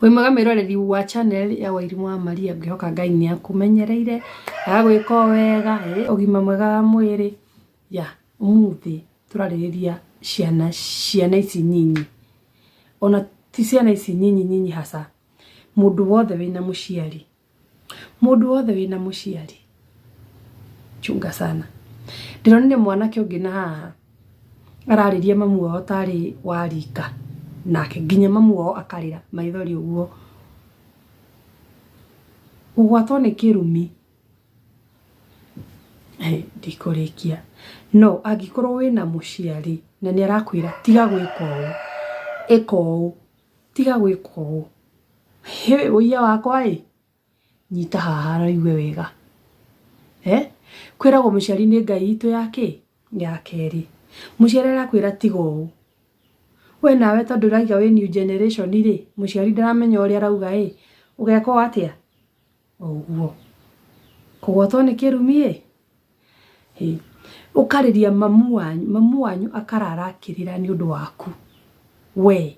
wĩ mwega mwĩroreri wa channel ya wairimũ wa maria ngĩhoka ngai nĩ akũmenyereire agagwĩka o wega eh, ũgima mwega wa mwĩrĩ ya ũmũthĩ tũrarĩrĩria ciana ciana ici nyinyi ona ti ciana ici nyinyi nyinyi hasa mũndũ wothe wĩna mũciari Mũndũ wothe wĩna mũciari chunga sana. Ndĩronire mwanake ũngĩ na haha ararĩria mamu wao tarĩ wa rika nake nginya mamu wao akarĩra maithori ũguo. Kũgwatwo nĩ kĩrumi ndikũrĩkia. No angĩkorwo wĩna mũciari na nĩ arakwĩra tiga gwĩka ũũ ĩka ũũ. Tiga gwĩka ũũ. Hĩ ũiya wakwa ĩ, nyita haha na ũigue wega. He? Kwĩragwo mũciari nĩ Ngai itũ ya kĩ? Ya kerĩ. Mũciari arakwĩra tiga ũũ, we nawe tondũ ũrauga wĩ new generation rĩ, mũciari ndaramenya ũrĩa arauga ĩ, ũgeka ũũ atĩa? Oguo. Kũgwatwo nĩ kĩrumi ĩ. Hĩ. Ũkarĩria mamu wanyu, mamu wanyu akarara akĩrĩra nĩ ũndũ waku. Wee.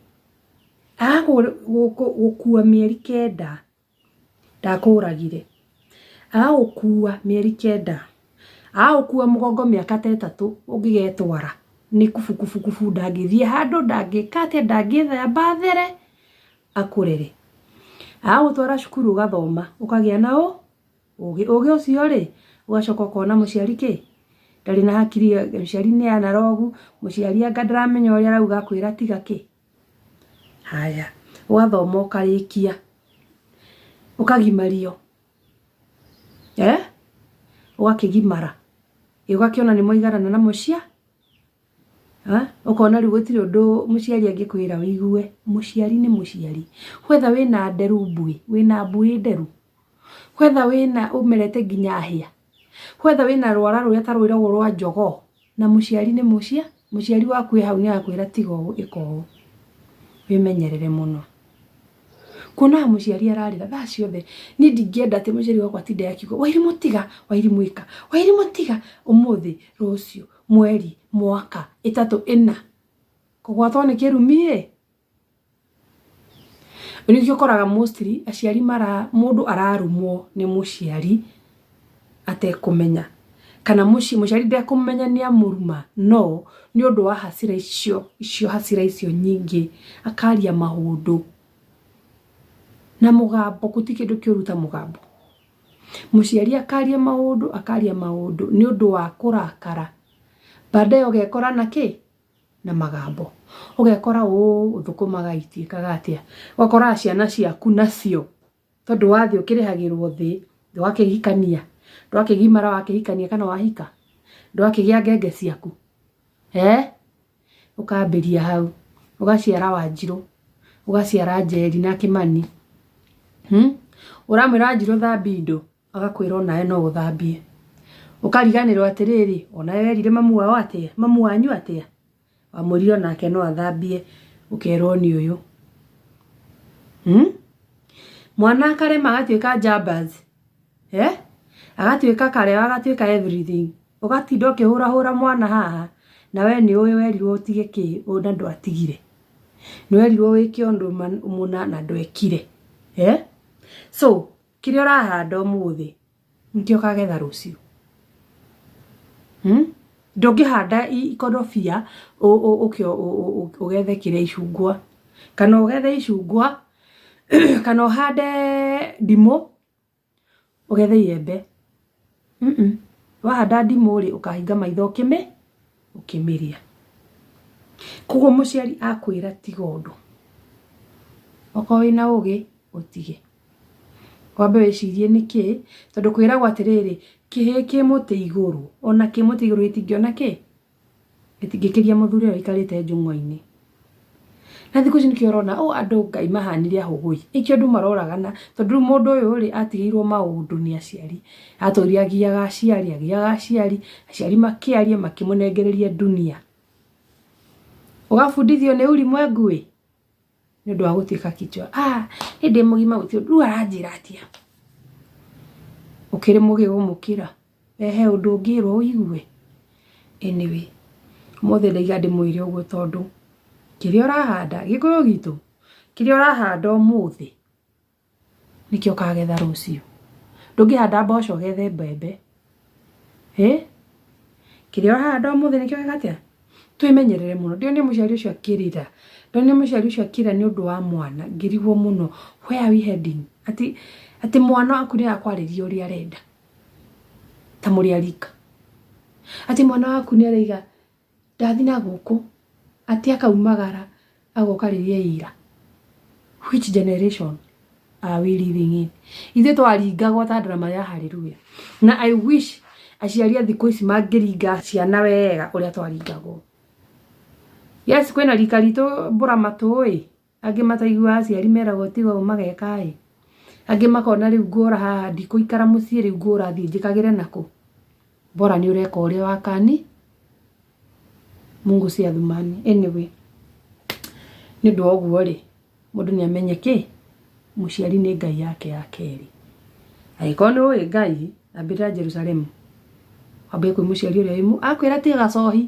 Agagũkua mĩeri kenda. Ndakũragire. Agagũkua mĩeri kenda. Agagũkua mũgongo mĩaka ta ĩtatũ ũngĩgetwara. Nĩ kubukubukubu ndangĩthiĩ handũ, ndangĩka atĩa, ndangĩthamba there. akũrere agagũtwara cukuru ũgathoma ũkagĩa na ũ ũgĩ ũgĩ ũcio rĩ ũgacoka ũkona mũciari kĩ ndarĩ na hakiri mũciari nĩ anarogu mũciari anga ndaramenya ũrĩa arauga akwĩra tiga kĩ haya ũgathoma ũkarĩkia ũkagimario eh ũgakĩgimara ĩ ũgakĩona nĩ mwaiganana na mũcia Ha? Ũkona rĩu gũtirĩ ũndũ mũciari angĩkwĩra ũigue. Mũciari nĩ mũciari. Whether wĩna nderu mbuĩ, wĩna mbuĩ nderu. Whether wĩna ũmerete nginya hĩa. Whether wĩna rwara rũrĩa ta rwĩragwo rwa njogoo. Na mũciari nĩ mũcia, mũciari waku e hau nĩ akwĩra tiga ũũ, ĩka ũũ. Wĩmenyerere mũno. Kuonaga mũciari ararĩra thaa ciothe. Niĩ ndingĩenda atĩ mũciari wakwa atinde akiuga, Wairimũ tiga, Wairimũ ĩka, Wairimũ tiga, ũmũthĩ, rũciũ. mweri, mwaka, ĩtatũ, ĩna, kũgwatwo nĩ kĩrumi ĩ, rĩu nĩkĩo ũkoraga mostly aciari mara, mũndũ ararumwo nĩ mũciari atekũmenya, kana mũci, mũciari ndekũmenya nĩ amũruma, no nĩ ũndũ wa hasira icio, icio hasira icio nyingĩ, akaria maũndũ na mũgambo, gũtirĩ kĩndũ kĩũru ta mũgambo. mũciari akaria maũndũ akaria maũndũ nĩ ũndũ wa kũrakara baadaye ũgekora na kĩ na magambo ũgekora ũũ thũkũmaga itiĩkaga atĩa ũgakoraga ciana ciaku nacio tondũ wathĩ ũkĩrĩhagĩrwo thĩ ndwakĩhikania ndwakĩgimara wakĩhikania kana wahika ndwakĩgĩa ngenge ciaku eeh. ũkambĩria hau ũgaciara wanjirũ ũgaciara njeri na kĩmani hmm? ũramwĩra wanjirũ thambia indo agakwĩra onawe no ũthambie ũkariganĩrwo atĩrĩrĩ onawe werire mamu wao atĩa mamu wanyu atĩa wamwĩrire onake no athambie ũkerwo nĩ ũyũ hmm? mwana akarema agatuĩka jambas eh? agatuĩka kareo agatuĩka everything ũgatinda ũkĩhũrahũra mwana haha na we nĩ ũĩ werirwo ũtige kĩ ũna ndũ atigire nĩ werirwo wĩke ũndũ mũna na ndwekire eh? so kĩrĩa ũrahanda ũmũthĩ nĩkĩo kagetha rũciũ hmm? ndũngĩhanda ikorobia ũkĩo ũgethe kĩrĩa icungwa kana ũgethe icungwa kana ũhande ndimũ ũgethe iembe wahanda ndimũ rĩ ũkahinga maitho ũkĩmĩ ũkĩmĩrĩa koguo mũciari akwĩra tiga ũndũ okorwo wĩna ũgĩ ũtige wambe wĩcirie nĩkĩ tondũ kwĩragwo atĩrĩrĩ kĩhĩ kĩ mũtĩ igũrũ ona kĩ mũtĩ igũrũ gĩtingĩona kĩ? Ĩtingĩkĩria mũthuri ũyũ aikarĩte njũng'wa-inĩ. Na thikũ ici nĩkĩo ũrona ũ andũ Ngai mahanire ahũgũ-ĩ, ĩkĩo andũ maroragana tondũ rĩu mũndũ ũyũ-rĩ atigĩirwo maũndũ nĩ aciari, atũire agiaga aciari agiaga aciari, aciari makĩaria makĩmũnengereria ndunia. Ũgabundithio nĩ ulimwengu-ĩ. nĩ ũndũ wa gũtuĩka kichwa ah nĩ ndĩ mũgima gũtirĩ ũndũ rĩu aranjĩra atĩa ũkĩrĩ mũgĩ gũmũkĩra we he ũndũ ũngĩrwo ũigue anyway ũmũthĩ ndaiga ndĩmwĩre ũguo tondũ kĩrĩa ũrahanda gĩkũyũ gitũ kĩrĩa ũrahanda ũmũthĩ. nĩkĩ ũkagetha rũciũ ndũngĩhanda mboco ũgethe mbembe ĩ kĩrĩa ũrahanda ũmũthĩ nĩkĩo gĩgatĩa twĩmenyerere mũno ndĩone mũciari ũcio akĩrĩra ndone mũciari ũcio akĩrĩra nĩ ũndũ wa mwana ngĩrigwo mũno where are we heading atĩ atĩ mwana waku nĩ arakwarĩria ũrĩa arenda ta mũrĩ arika atĩ mwana waku nĩ araiga Ndathi na gũkũ atĩ akaumagara agoka rĩrĩa ira. Which generation are we living in? Ithuĩ twaringagwo ta andũ na marĩa haleluya. Na I wish aciari a thikũ ici mangĩringa ciana wega ũrĩa twaringagwo. Yes kwĩna rika ritũ mbũra matũĩ. Angĩ mataiguaga aciari meragwo tiga ũũ mageka-ĩ, angĩ makona rĩu ngũra haha ndikũikara mũciĩ rĩu ngũra thiĩ njĩkagĩre nakũ? Bora nĩ ũreka ũrĩa wa kani, Mungu si Athumani. Anyway, nĩ ũndũ wa ũguo-rĩ, mũndũ nĩ amenye kĩ? Mũciari nĩ Ngai yake ya kerĩ. Angĩkorwo nĩ ũĩ Ngai, ambĩrĩra Jerusalemu, wambie kwĩ mũciari ũrĩa wĩ muoyo. Akwĩra tiga gacohi,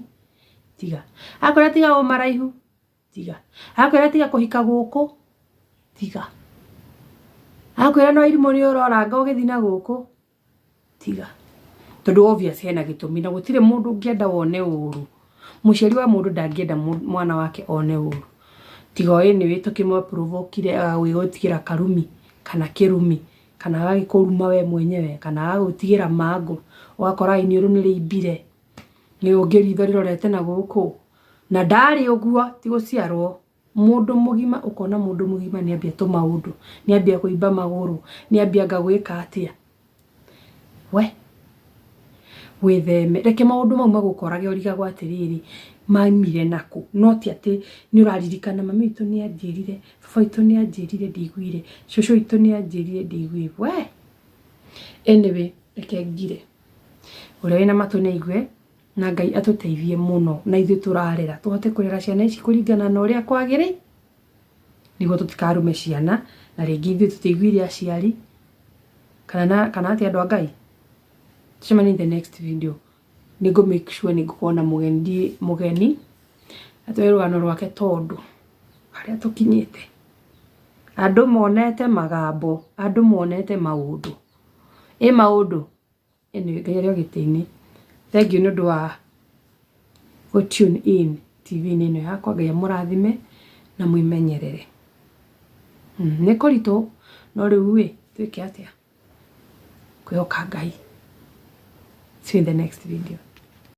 tiga. Akwĩra tiga ũmaraihu, tiga akwira tiga kuhika guku tiga akwira no irimu ri uroranga ugithi na guku tiga tondu obvious hena gitumi na gutire mundu ngienda wone uru muciari wa mundu ndangienda mwana wake one uru tiga oyi ni witukimo provokire awi gutigira karumi kana kirumi kana agagĩkũruma we mwenyewe kana agagũtigĩra mango ũgakora iniũrũ nĩ rĩimbire nĩ ũngĩ ritho rĩrorete na gũkũ Na ndarĩ ũguo ti gũciarwo mũndũ mũgima ũkona mũndũ mũgima nĩ ambia tũmaũndũ nĩ ambia kũimba magũrũ nĩ ambia anga gwĩka atĩa we wĩtheme reke maũndũ mau magũkorage ũrigagwo atĩrĩrĩ maimire nakũ no ti atĩ nĩ ũraririkana mami witũ nĩ anjĩrire baba witũ nĩ anjĩrire ndiguire cũcũ witũ nĩ anjĩrire ndiguire we anyway reke ngire ũrĩa wĩna matũ nĩ aigue. Na Ngai atũteithie mũno na ithuĩ tũrarera tũhote kũrera ciana ici kũringana na ũrĩa kwagĩrĩ nĩguo tũtikarume ciana na rĩngĩ ithuĩ tũteiguire aciari kana na kana atĩ andũ a Ngai. Tucemanie in the next video. Nĩ ngũ make sure nĩ ngũkorwo na mũgeni ndiĩ mũgeni atoe rũgano rwake tondũ harĩa tũkinyĩte andũ monete magambo andũ monete maũndũ. Ĩ maũndũ? Anyway, Ngai arĩ o gĩtĩ-inĩ. Thengiũ nĩ ũndũ wa gũ tune in TV-inĩ ĩno yakwa. Ngai amũrathime na mwĩmenyerere. Mm, nĩ kũritũ no rĩu ĩ twĩke atĩa? Kwĩhoka Ngai. See you in the next video.